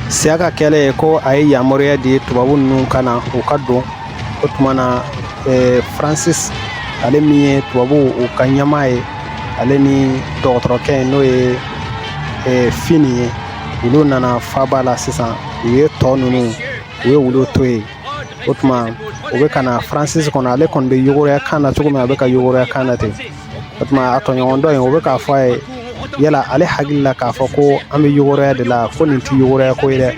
Siyaka kɛlen ye ko a ye yamaruya di tubabu ninnu ka na u ka don o tuma na faransisi ale min ye tubabuw ka ɲɛmaa ye ale ni dɔgɔtɔrɔkɛ ye n'o ye fini ye olu nana faba la sisan u ye tɔ ninnu u ye olu to yen o tuma u bɛ ka na fransisi kɔni ale kɔni bɛ yogoroya ka na cogo min a bɛ ka yogoroya ka na ten o tuma a tɔɲɔgɔn dɔ yen o bɛ k'a fɔ a ye yala ale hakili la k'a fɔ ko an bɛ yogoroya de la ko nin tɛ yogoroya ko ye dɛ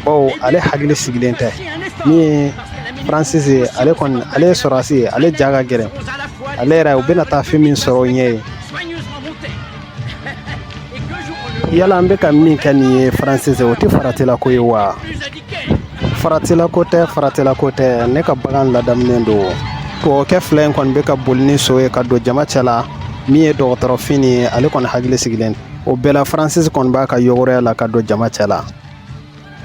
baw ale hakili sigilen tɛ min ye fransisi ye ale kɔni ale ye sɔrɔdasi ye ale ja ka gɛlɛn ale yɛrɛ u bɛna taa fɛn min sɔrɔ o ɲɛ ye yala an bɛ ka min kɛ nin ye faransisi o tɛ faratilako ye wa faratilako tɛ faratilako tɛ ne ka bagan ladaminen don tubabukɛ fila in kɔni bɛ ka boli ni so ye ka don jama cɛ la min ye dɔgɔtɔrɔ fini ye ale kɔni hakili sigilen o bɛɛ la faransisi kɔni b'a ka yɔgɔrɔya la ka don jama cɛ la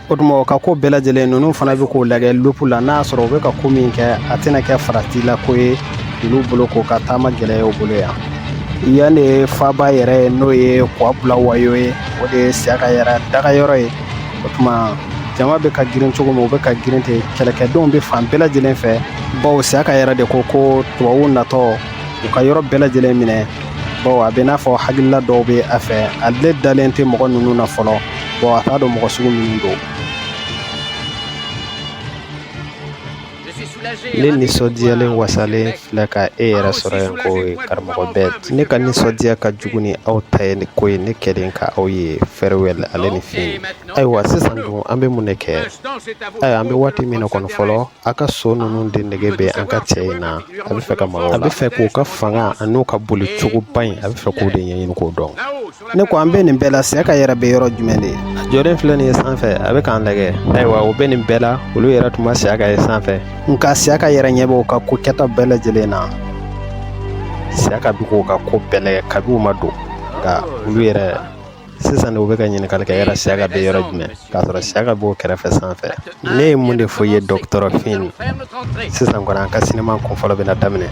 o tuma u ka ko bɛɛ lajɛlen ninnu fana bɛ k'o lajɛ lupu la n'a y'a sɔrɔ u bɛ ka ko min kɛ a tɛna kɛ faratilako ye olu bolo k'u ka taama gɛlɛya u bolo yan yan de ye faba yɛrɛ ye n'o ye kwa bulawayo ye o de ye siyaka yɛrɛ dagayɔrɔ ye o tuma jama bɛ ka girin cogo min u bɛ ka girin ten kɛlɛkɛdenw bɛ fan bɛɛ lajɛlen fɛ baw siyaka yɛrɛ de ko ko tubabuw natɔ u ka yɔrɔ bɛɛ lajɛlen minɛ bawo a bɛ n'a fɔ hakilila dɔw bɛ a fɛ ale dalen tɛ mɔgɔ ninnu na fɔlɔ bawo a t'a dɔn mɔgɔ sugu minnu don ne nisɔndiyalen wasalen filɛ ka e yɛrɛ sɔrɔ yan ko ye karamɔgɔ bɛɛ ne ka nisɔndiya ka jugu ni aw ta ye ko ye ne kɛlen ka aw ye fɛrɛwɛl ale ni fini ayiwa sisan dun an bɛ mun de kɛ ayiwa an bɛ waati min na kɔni fɔlɔ a ka so ninnu de nege bɛ an ka cɛ in na a bɛ fɛ ka mɔgɔ a bɛ fɛ k'u ka fanga ani u ka boli cogoba in a bɛ fɛ k'o de ɲɛɲini k'o dɔn ne ko an bɛ nin bɛɛ la siyaka yɛrɛ bɛ yɔrɔ jumɛn de a jɔlen filɛ nin ye sanfɛ a bɛ k'an lajɛ ayiwa o bɛ nin bɛɛ la olu yɛrɛ tun ma siyaka ye sanfɛ nka siyaka yɛrɛ ɲɛ b'o ka ko kɛta bɛɛ lajɛlen na siyaka bi k'o ka ko bɛɛ lajɛ kabi u ma don nka olu yɛrɛ sisan u bɛ ka ɲininkali kɛ yala siyaka bɛ yɔrɔ jumɛn k'a sɔrɔ siyaka b'u kɛrɛfɛ sanfɛ ne ye mun de fɔ i ye dɔgɔtɔrɔ fini sisan kɔni an ka sinima kun fɔlɔ bɛna daminɛ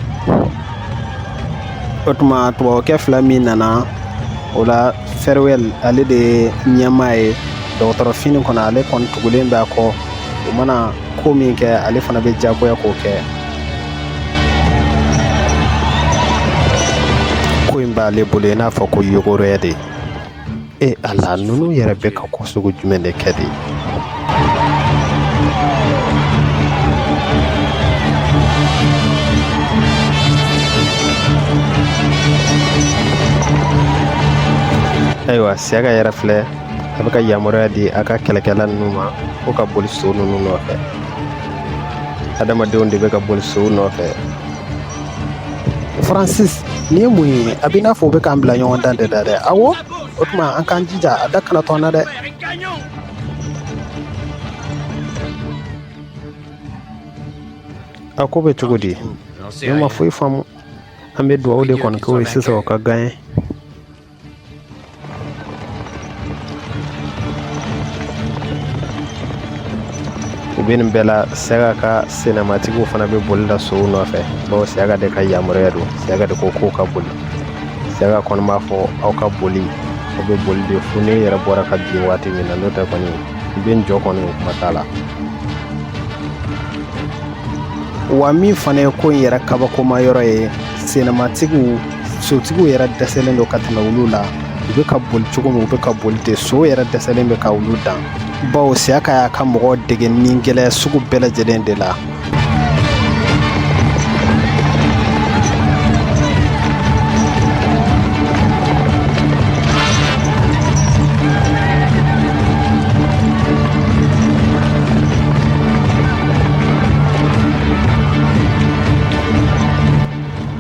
o tuma tubabukɛ fila min nana o la fɛrɛwɛl ale de ye ɲɛmaa ye dɔgɔtɔrɔ fini kɔni ale kɔni tugulen bɛ a kɔ u mana ko min kɛ ale fana bɛ jagoya k'o kɛ ko in b'ale bolo i n'a fɔ ko yogoroya de e ala ninnu yɛrɛ bɛ ka ko sugu jumɛn de kɛ de ayiwa siyaka yɛrɛ filɛ a bɛ ka yamaruya di a ka kɛlɛkɛla ninnu ma k'u ka boli so ninnu nɔfɛ adamadenw de bɛ ka boli sow nɔfɛ faransisi nin ye mun ye a bɛ n'a fɔ o bɛ k'an bila ɲɔgɔndan de la dɛ awo o tuma an k'an jija a da kana to an na dɛ a ko bɛ cogo di ne ma foyi faamu an bɛ dugawu de kɔni k'u ye sisan u ka gaɲe u bɛ nin bɛɛ la siyaka ka senamatigiw fana bɛ boli la sow nɔfɛ bawo siyaka de ka yamaruya don siyaka de ko k'u ka boli siyaka kɔni b'a fɔ aw ka boli aw bɛ boli de fo ne yɛrɛ bɔra ka bin waati min na n'o tɛ kɔni n bɛ n jɔ kɔni o kuma t'a la wa min fana ye ko in yɛrɛ kabakoma yɔrɔ ye senamatigiw sotigiw yɛrɛ dɛsɛlen don ka tɛmɛ olu la u bɛ ka boli cogo min u bɛ ka boli ten sow yɛrɛ dɛsɛlen bɛ ka olu dan bawo siyaka y'a ka mɔgɔw dege nin gɛlɛya sugu bɛɛ lajɛlen de la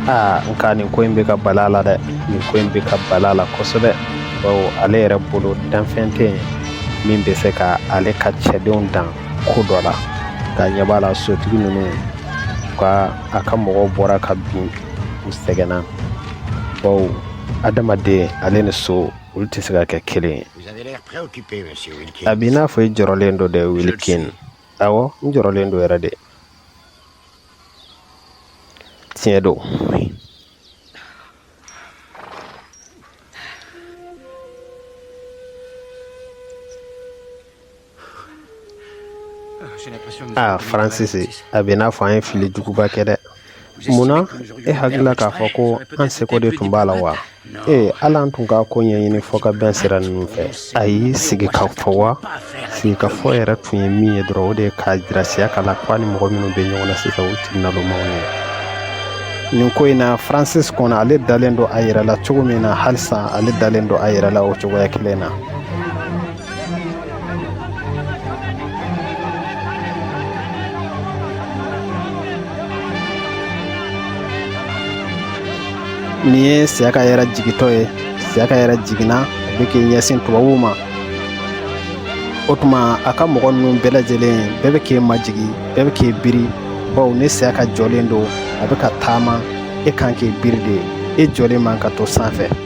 aa nka nin ko in bɛ ka bala a la dɛ nin ko in bɛ ka bala a la kosɛbɛ bawo ale yɛrɛ bolo danfɛn tɛ yen min bɛ se ka ale ka cɛdenw dan ko dɔ la k'a ɲɛ b'a la sotigi ninnu ka a ka mɔgɔw bɔra ka bin u sɛgɛnna bawo adamaden ale ni so olu tɛ se ka kɛ kelen ye a b'i n'a fɔ i jɔrɔlen don dɛ wilikin awɔ n jɔrɔlen don yɛrɛ de tiɲɛ don aa faransisi a bɛ n'a fɔ an ye fili juguba kɛ dɛ mun na e hakilila k'a fɔ ko an seko de tun b'a la wa ee ala an tun k'a ko ɲɛɲini fɔkabɛn sira ninnu fɛ ani sigikafɔ wa sigikafɔ yɛrɛ tun ye min ye dɔrɔn o de ye k'a jira siyaka la ko a ni mɔgɔ minnu bɛ ɲɔgɔn na sisan o timinalomaw ye nin ko in na francis kɔni ale dalen don a yɛrɛ la cogo min na halisa ale dalen don a yɛrɛ la o cogoya kelen na Nin ye siyaka yɛrɛ jigintɔ ye siyaka yɛrɛ jiginna a bɛ k'i ɲɛsin tubabuw ma o tuma a ka mɔgɔ ninnu bɛɛ lajɛlen bɛɛ bɛ k'i majigin bɛɛ bɛ k'i biri baw ni siyaka jɔlen don a bɛ ka taama e kan k'i biri de e jɔlen man ka to sanfɛ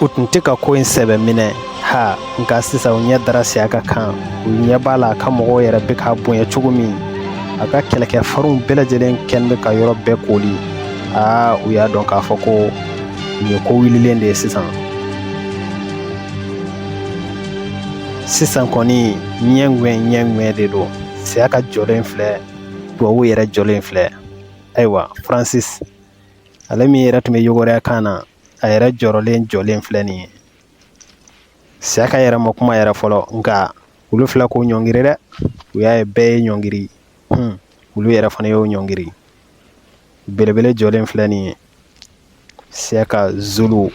u tun tɛ ka ko in sɛbɛ minɛ ha nka sisan u ɲɛ dara siyaka kan u ɲɛ b'a la a ka mɔgɔw yɛrɛ bɛ k'a bonya cogo min a ka kɛlɛkɛ farinw bɛɛ lajɛlen kɛlen bɛ ka yɔrɔ bɛɛ koori aa u y'a dɔn k'a fɔ ko nin ye ko wililen de ye sisan sisan kɔni ɲɛ ŋɛn ɲɛ ŋɛn de don siyaka jɔlen filɛ tubabu yɛrɛ jɔlen filɛ ayiwa francis ale min yɛrɛ tun bɛ yogoroya kan na a yɛrɛ jɔrɔlen jɔlen filɛ nin ye siyaka yɛrɛ ma kuma yɛrɛ fɔlɔ nka olu filɛ k'u ɲɔngiri dɛ u y'a ye bɛɛ y'i ɲɔngiri hun olu yɛrɛ fana y'u ɲɔngiri belebele jɔlen filɛ nin ye siyaka zulu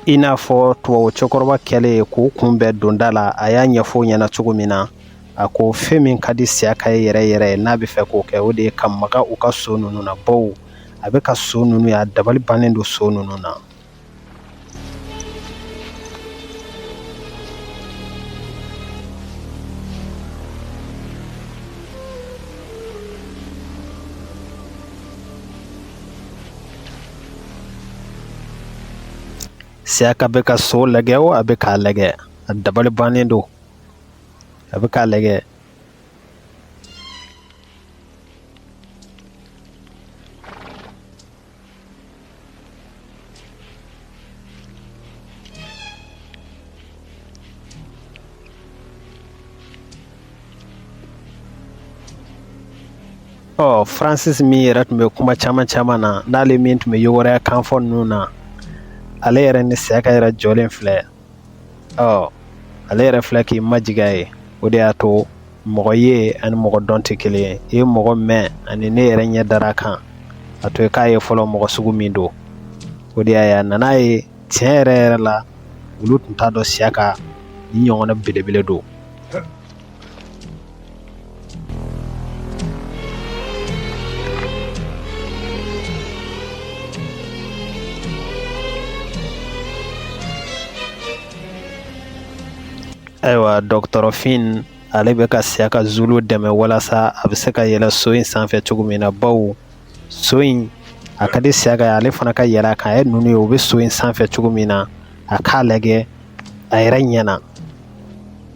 i n'a fɔ tubabu cɛkɔrɔba kɛlen ye k'u kun bɛɛ don da la a y'a ɲɛfɔ u ɲɛna cogo min na a ko fɛn min ka di siyaka ye yɛrɛ yɛrɛ ye n'a bɛ fɛ k'o kɛ o de ye ka maga u ka so ninnu na baw a bɛ ka so ninnu ye a dabali bannen don so ninnu na Siyaka bɛ ka so lajɛ o a bɛ k'a lajɛ a dabali bannen don a bɛ k'a lajɛ ɔ francis min yɛrɛ tun bɛ kuma caman caman na n'ale min tun bɛ yogoroya kan fɔ ninnu na ale yɛrɛ ni siyaka yɛrɛ jɔlen filɛ ɔ ale yɛrɛ filɛ k'i majigin a ye o de y'a to mɔgɔ ye ani mɔgɔ dɔn tɛ kelen ye i ye mɔgɔ mɛn ani n'i yɛrɛ ɲɛ dara a kan a to i k'a ye fɔlɔ mɔgɔ sugu min don o de y'a ye a nana ye tiɲɛ yɛrɛ yɛrɛ la olu tun t'a dɔn siyaka nin ɲɔgɔnna belebele don Ayiwa dɔgɔtɔrɔ fin ale bɛ ka siyaka zulu dɛmɛ walasa a bɛ se ka yɛlɛ so in sanfɛ cogo min na bawo so in a ka di siyaka ye ale fana ka yɛlɛ a kan a ye ninnu ye u bɛ so in sanfɛ cogo min na a k'a lajɛ a yɛrɛ ɲɛna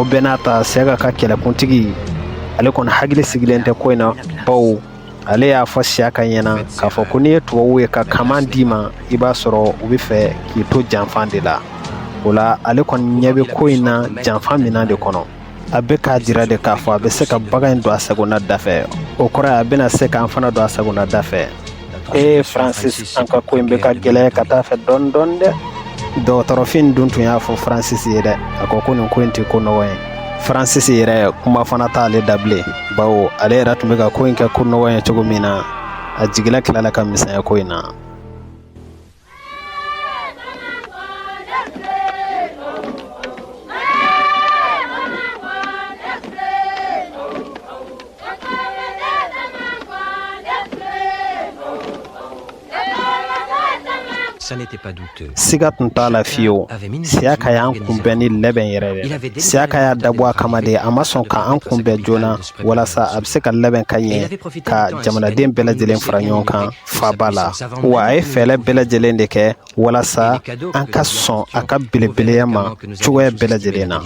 o bɛɛ n'a ta siyaka ka kɛlɛkuntigi ale kɔni hakili sigilen tɛ ko in na bawo ale y'a fɔ siyaka ɲɛna k'a fɔ ko n'i ye tubabuw ye ka kaman d'i ma i b'a sɔrɔ u bɛ fɛ k'i to janfan de la o la ale kɔni ɲɛ bɛ ko in na janfan min de kɔnɔ a bɛ k'a jira de k'a fɔ a bɛ se ka bagan in don a sagona da fɛ o kɔrɔ ye a bɛna se k'an fana don a sagona da fɛ ee faransis an ka ko in bɛ ka gɛlɛya ka t'a fɛ dɔɔni dɔɔni dɛ dɔgɔtɔrɔ fin dun tun y'a fɔ faransis ye dɛ a ko ko nin ko in tɛ ko nɔgɔ ye faransis yɛrɛ kuma fana t'ale da bilen bawo ale yɛrɛ tun bɛ ka ko in kɛ ko nɔgɔ ye cogo min na a jigila tilala ka misɛnya ko in na siga tun t'a la fiyewu siyaka y'an kunbɛn ni labɛn yɛrɛ dɛ siyaka y'a dabɔ a kama de a ma sɔn ka an kunbɛn joona walasa a bɛ se ka labɛn ka ɲɛ ka jamanaden bɛɛ lajɛlen fara ɲɔgɔn kan faaba la wa a ye fɛɛlɛ bɛɛ lajɛlen de kɛ walasa an ka sɔn a ka belebeleya ma cogoya bɛɛ lajɛlen na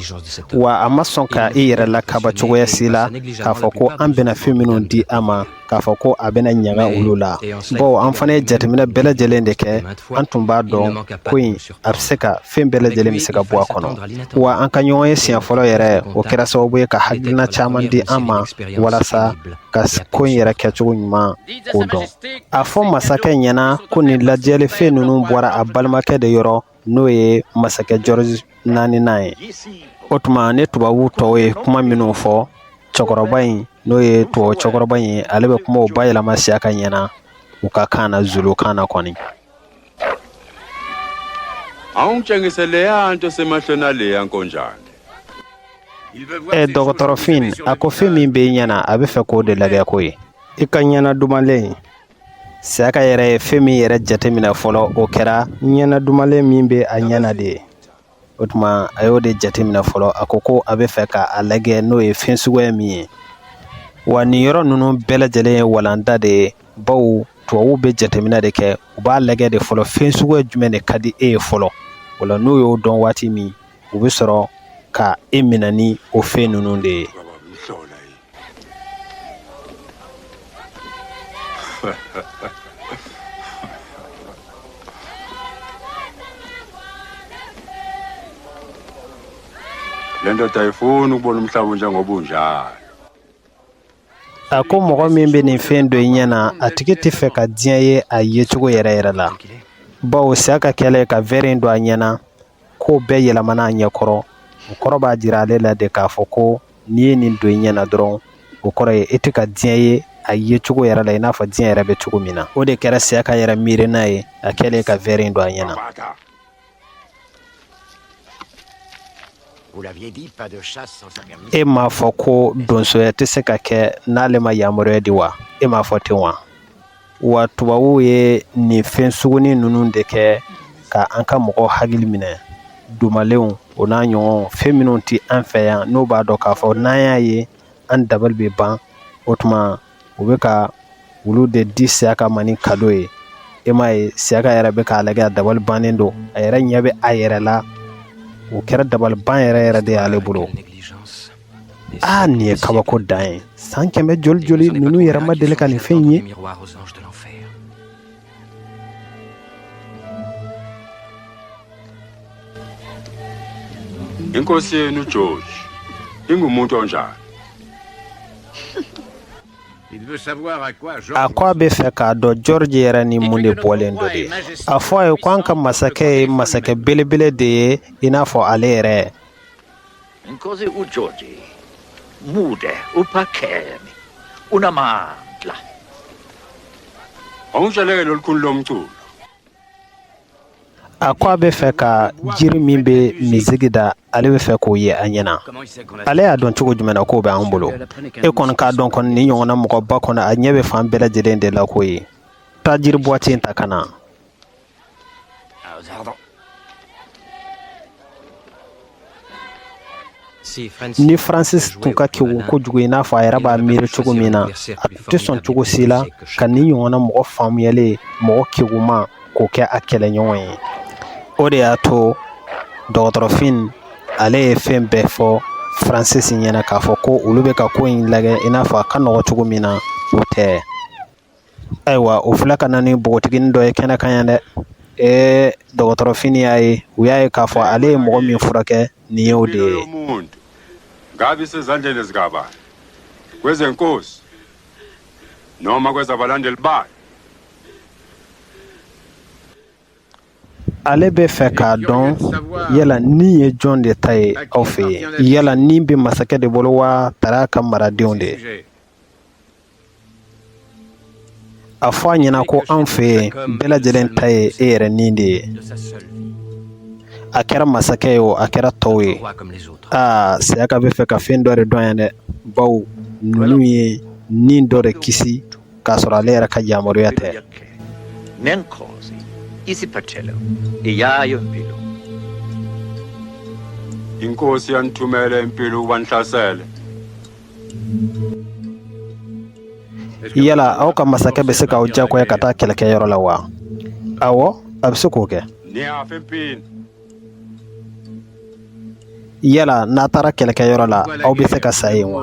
wa a ma sɔn ka i yɛrɛ lakaba cogoya si la k'a fɔ ko an bɛna fɛn minnu di a ma k'a fɔ ko a bɛna ɲaga olu la bawo an fana ye jateminɛ bɛɛ lajɛlen de kɛ an tun b'a dɔn ko in a bɛ se ka fɛn bɛɛ lajɛlen bɛ se ka bɔ a kɔnɔ wa an ka ɲɔgɔn ye siɲɛ fɔlɔ yɛrɛ o kɛra sababu ye ka hakilina caman di an ma walasa ka ko in yɛrɛ kɛcogo ɲuman ko dɔn a fɔ masakɛ ɲɛna ko nin ladiyalifɛn ninnu bɔra a balimakɛ de yɔrɔ n'o ye masakɛ george naaninan ye o tuma ni tubabu tɔw ye kuma minnu fɔ cɛkɔrɔba in n'o ye tubabu cɛkɔrɔba in ye ale bɛ kumaw bayɛlɛma siyaka ɲɛna u ka kan na zulu kan na kɔni awungitshengise leya nto esemehlweni aleya nkonjane e dɔgɔtɔrɔ fin a ko fɛn min bɛ i ɲɛ na a bɛ fɛ k'o de lajɛ k'o ye i ka ɲɛna dumalen siyaka yɛrɛ ye fɛn min yɛrɛ jateminɛ fɔlɔ o kɛra ɲɛna dumalen min bɛ a ɲɛna de ye o tuma a y'o de jateminɛ fɔlɔ a ko ko a bɛ fɛ ka a lajɛ n'o ye fɛn suguya min ye wa nin yɔrɔ ninnu bɛɛ lajɛlen ye walanda de ye bawo tubabuw bɛ jateminɛ de kɛ u b'a lajɛ de fɔlɔ fɛn suguya jumɛn de ka di e ye fɔlɔ o la n'u y'o dɔn waati min u bɛ sɔrɔ ka e minɛ ni o fɛn ninnu de ye le ndoda ayifuni ukubona umhlaba unjengoba unjalo a ko mɔgɔ min bɛ nin fɛn don i ɲɛ na a tigi tɛ fɛ ka diɲɛ ye a yecogo yɛrɛ yɛrɛ la bawo siyaka kɛlen ye ka vɛri in don a ɲɛ na ko bɛɛ yɛlɛmana a ɲɛkɔrɔ o kɔrɔ b'a jira ale la de k'a fɔ ko n'i ye nin don i ɲɛna dɔrɔn o kɔrɔ ye e tɛ ka diɲɛ ye a ye cogo yɛrɛ la i n'a fɔ diɲɛ yɛrɛ bɛ cogo min na o de kɛra siyaka yɛrɛ miirina ye a kɛlen ye ka vɛri in don a ɲɛna e m'a fɔ ko donsoya tɛ se ka kɛ n'ale ma yamaruya di wa e m'a fɔ ten wa wa tubabuw ye nin fɛn sugunin ninnu de kɛ ka an ka mɔgɔ hakili minɛ dumalenw o n'a ɲɔgɔn fɛn minnu tɛ an fɛ yan n'u b'a dɔn k'a fɔ n'an y'a ye an dabali bɛ ban o tuma u bɛ ka olu de di siyaka ma ni kado ye e m'a ye siyaka yɛrɛ bɛ k'a lajɛ a dabali bannen don a yɛrɛ ɲɛ bɛ a yɛrɛ la o kɛra dabaliban yɛrɛ yɛrɛ de y'ale bolo aa nin ye kabako dan ye san kɛmɛ joli joli ninnu yɛrɛ ma deli ka nin fɛn in ye inkosi yenu george ingumuntu onjani a ko a bɛ fɛ k'a dɔn george yɛrɛ ni mun de bɔlen don de a fɔ a ye ko an ka masakɛ ye masakɛ belebele de ye i n'a fɔ ale yɛrɛ Inkosi uGeorge, mude uphakeme, unamandla. Anw salen ye kun lɔmuso a ko a bɛ fɛ ka jiri min bɛ miziki da ale bɛ fɛ k'o ye a ɲɛna ale y'a dɔn cogo jumɛn na k'o bɛ an bolo e kɔni k'a dɔn kɔni nin ɲɔgɔnna mɔgɔba kɔnɔ a ɲɛ bɛ fan bɛɛ lajɛlen de la ko ye taa jiri buwati in ta ka na Ah, pardon. ni francis tun ka kegu kojugu i n'a fɔ a yɛrɛ b'a miiri cogo min na a tun tɛ sɔn cogo si la ka nin ɲɔgɔnna mɔgɔ faamuyalen mɔgɔ keguma k'o kɛ a kɛlɛɲɔgɔn ye o de y'a to dɔgɔtɔrɔ fynn ale ye fɛn bɛɛ fɔ francis ɲɛna k'a fɔ ko olu bɛ ka ko in lagɛ i n'a fɔ a ka nɔgɔ cogo min na o tɛ Ayiwa u filɛ ka na ni npogotiginin dɔ ye kɛnɛ kan yan dɛ ɛɛ dɔgɔtɔrɔ Fini y'a ye u y'a ye k'a fɔ ale ye mɔgɔ min furakɛ nin ye o de ye nka bɛ se zan saba ko n'aw ma sabalibaa ale bɛ fɛ k'a dɔn yala ni ye jɔn de ta ye aw fɛ yen yala ni bɛ masakɛ de bolo wa tari a ka maradenw de ye a fɔ a ɲɛna ko an fɛ yen bɛɛ lajɛlen ta ye e yɛrɛ ni de ye a kɛra masakɛ ye o a kɛra tɔw ye aa Siyaka bɛ fɛ ka fɛn dɔ de dɔn yan dɛ bawo ninnu ye ni dɔ de kisi k'a sɔrɔ ale yɛrɛ ka yamaruya tɛ inkosi yanithumele impilo ubanhlasele Yala aw ka masakɛ bɛ se k'aw diyagoya ka taa kɛlɛkɛyɔrɔ la wa ɔwɔ a bɛ se k'o kɛ yala n'a taara kɛlɛkɛyɔrɔ la aw bɛ se ka sa yen wa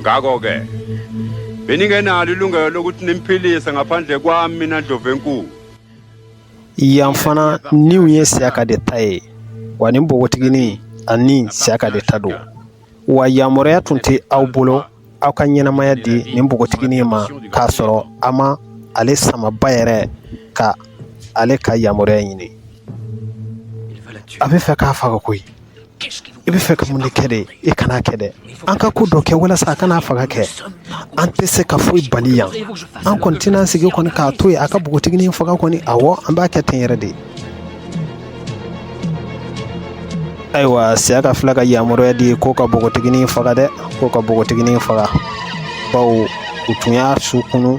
ngakho-ke beningenalo ilungelo lokuthi nimphilise ngaphandle kwami mina ndlovu enkulu yan fana niw ye Siyaka de ta ye wa nin npogotiginin a ni Siyaka de ta don wa yamaruya tun tɛ aw bolo aw ka ɲɛnamaya di nin npogotiginin ma k'a sɔrɔ aw ma ale samaba yɛrɛ ka ale ka yamaruya ɲini a bɛ fɛ k'a faga koyi i bɛ fɛ ka mun de kɛ de i kana a kɛ dɛ an ka ko dɔ kɛ walasa a kana faga kɛ an tɛ se ka foyi bali yan an kɔni tɛna sigi kɔni k'a to yen a ka npogotiginin faga kɔni awɔ an b'a kɛ ten yɛrɛ de ayiwa Siyaka filɛ ka yamaruya di ko ka npogotiginin faga dɛ ko ka npogotiginin faga bawo u tun y'a su kunu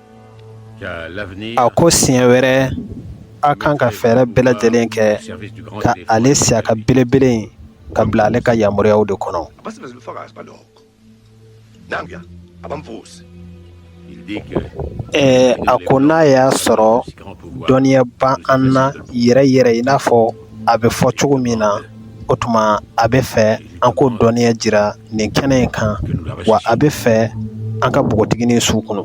a ko siɲɛ wɛrɛ aw kan ka fɛɛrɛ bɛɛ lajɛlen kɛ ka ale Siyaka belebele in ka bila ale ka yamaruyaw de kɔnɔ a ko n'a y'a sɔrɔ dɔnniya bɛ an na yɛrɛ yɛrɛ i n'a fɔ a bɛ fɔ cogo min na o tuma a bɛ fɛ an k'o dɔnniya jira nin kɛnɛ in kan wa a bɛ fɛ an ka npogotiginin su kunu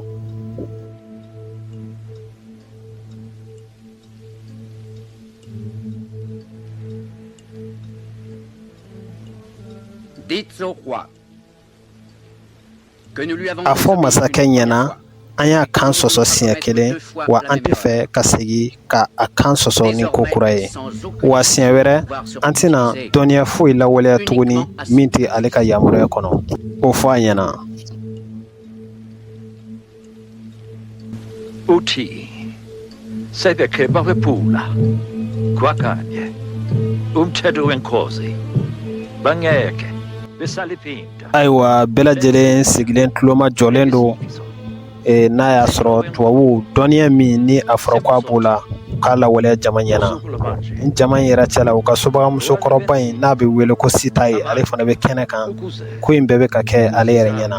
a fɔ masakɛ ɲɛna an y'a kan sɔsɔ siɲɛ kelen wa an tɛ fɛ ka segin ka a kan sɔsɔ ni ko kura ye wa siɲɛ wɛrɛ an tɛna dɔnniya foyi lawaleya tuguni min tɛ ale ka yamaruya kɔnɔ o fɔ a ɲɛna ayiwa bɛɛ lajɛlen sigilen tulomajɔlen don eh, n'a y'a sɔrɔ tubabuw dɔnniya min ni a fɔra ko a b'o la k'a lawaleya jama ɲɛna ni jama in yɛrɛ cɛla u ka subagamuso kɔrɔba in n'a bɛ wele ko sita ye ale fana bɛ kɛnɛ kan ko in bɛɛ bɛ ka kɛ ale yɛrɛ ɲɛna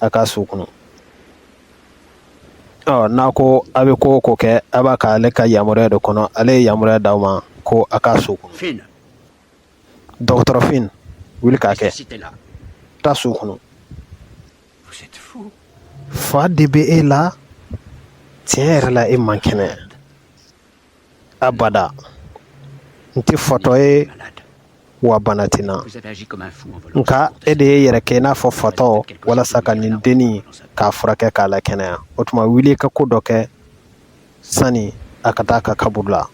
a k'a su kunun ɔwɔ n'a ko a bɛ ko o ko kɛ a b'a kɛ ale ka yamaruya de kɔnɔ ale ye yamaruya d'aw ma ko a k'a su kunun dɔgɔtɔrɔfin wuli k'a kɛ taa su kunun fa de bɛ e la tiɲɛ yɛrɛ la e man kɛnɛ Abada n tɛ fatɔ ye wa bana tɛ n na nka e de y'i yɛrɛ kɛ i n'a fɔ fatɔ walasa ka nin dennin k'a furakɛ k'a lakɛnɛya o tuma wuli ka ko dɔ kɛ sani a ka taa a ka kaburu la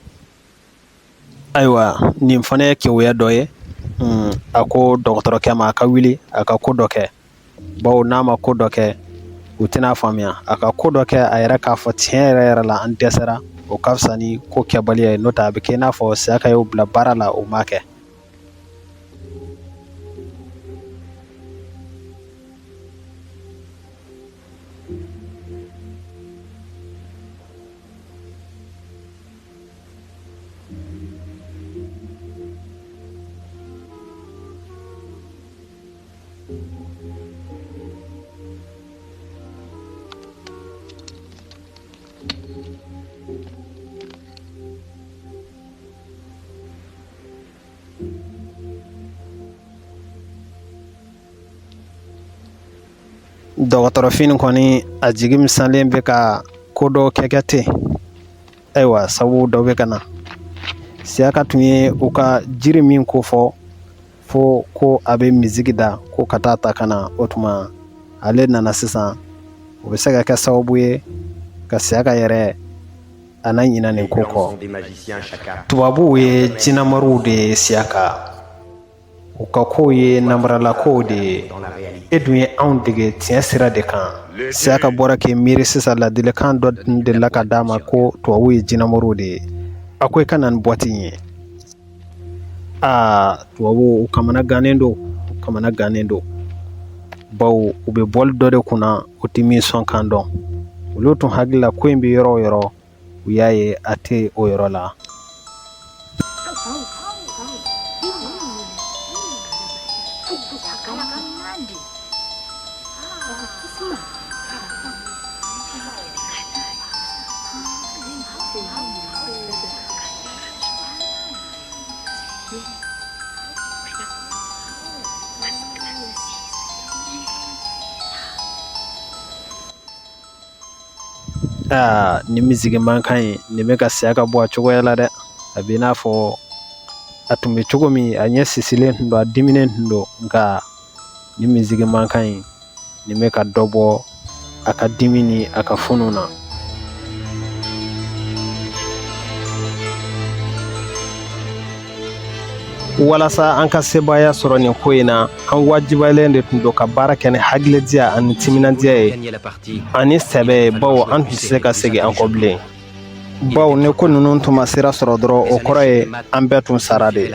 ayiwa nin fana ye keguya dɔ ye a ko dɔgɔtɔrɔkɛ ma a ka wuli a ka ko dɔ kɛ bawo n'a ma ko dɔ kɛ u tɛna a faamuya a ka ko dɔ kɛ a yɛrɛ k'a fɔ tiɲɛ yɛrɛ yɛrɛ la an dɛsɛra o ka fisa ni ko kɛbaliya ye n'o tɛ a bɛ kɛ i n'a fɔ siyaka y'u bila baara la o ma kɛ dɔgɔtɔrɔfinnin kɔni a jigi misalen bɛ ka ko dɔw kɛkɛ ten ayiwa sabu dɔ bɛ ka na siyaka tun ye u ka jiri min ko fɔ fɔ ko a bɛ misigi da ko ka taa a ta ka na o tuma ale nana sisan o bɛ se ka kɛ sababu ye ka siyaka yɛrɛ a na ɲina nin ko kɔ tubabuw ye jinamoriw de ye siyaka u ka kow ye namaralakow de ye e dun ye anw dege tiɲɛ sira de kan siyaka b'o la k'i miiri sisan ladilikan dɔ tun delila ka d'a ma ko tubabuw ye jinamoriw de ye a ko i ka na ni bɔti in ye Aa tubabuw kamana gannen don u kamana gannen don bawo u bɛ boli dɔ de kunna u tɛ min sɔn kan dɔn olu tun hakilila ko in bɛ yɔrɔ o yɔrɔ u y'a ye a tɛ o yɔrɔ la Aa ni miziki mankan ye nin bɛ ka saya ka bɔ a cogoya la dɛ a bɛ i n'a fɔ a tun bɛ cogo min a ɲɛ sisilen tun don a diminnen tun don nka ni miziki mankan ye nin bɛ ka dɔ bɔ a ka dimi ni a ka funu na walasa an ka sebaaya sɔrɔ nin ko in na an wajibalen de tun don ka baara kɛ ni hakilitigiya ani timinandiya ye ani sɛbɛ ye bawo an tun tɛ se ka segin an kɔ bilen bawo ni ko ninnu tun ma sira sɔrɔ dɔrɔn o kɔrɔ ye an bɛɛ tun sara de ye